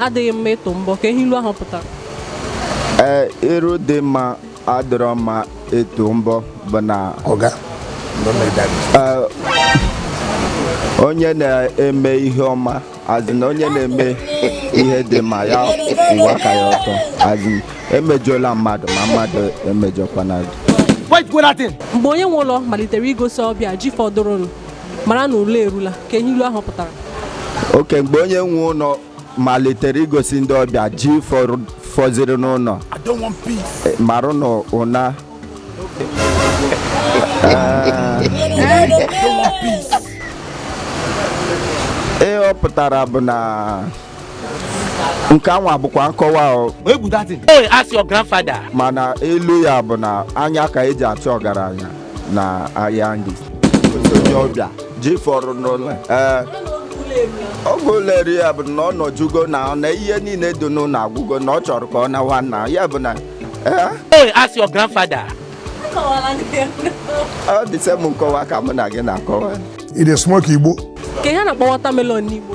adịghị mma ịtụ mbọ kee ihe ilu ahụ pụtara ee iru dị mma adịrọ mma ịtụ mbọ bụ na ọga ee, onye na-eme ihe ọma a sị na onye na-eme ihe dị mma ya ụwa ka ya ọtọ a sị emejọla mmadụ ma mmadụ emejọkwana gị mgbe onye nwe ụlọ malitere igosi ọbịa ji fọdụrụnụ mara na ụla erula kee ihe ilu ahụ pụtara oke mgbe onye nwe ụlọ malitere igosi ndị ọbịa ji fọrọ- fọziri n'ụlọ eh, marụ na ụna ihe ọ pụtara bụ na nke anwa bụkwa nkọwa o, Hey, ask your grandfather. mana ilu ya bụ na anya ka eji achụ ọgaranya na ahịa ndị onye ọbịa ji fọrọ n'ụlọ ee ọgwụ ụlọeri ya bụ na ọ nọjugo na ọ na ihe niile dị n'ụlọ agwụgo na ọ chọrọ ka ọ nawa na ya bụ na ee Hey, ask your grandfather. ọ the same nkọwa ka mụ na gị na-akọwa Ị na-esmoke Igbo? Kee ihe a na-akpọ watermelon n'Igbo.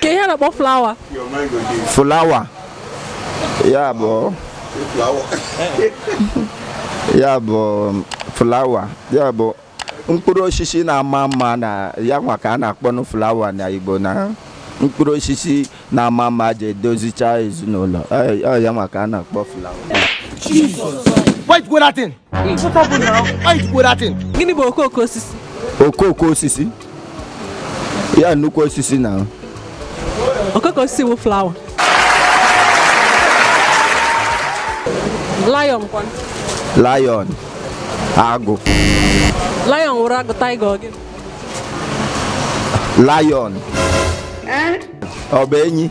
kee ihe a na-akpọ flower flower ya bụ ya bụ flower ya bụ mkpụrụ osisi na-ama mma na ya nwa ka a na-akpọnụ flower na Igbo na mkpụrụ osisi na-ama mma eji edozicha ezinụlọ ya nwa ka a na-akpọ flower gịnị bụ okooko osisi okooko osisi ya nnukwu osisi na okooko osisi bụ flower lion lion agụ lion wụrụ agụ tiger ọ gịnị lion ọ bụ enyi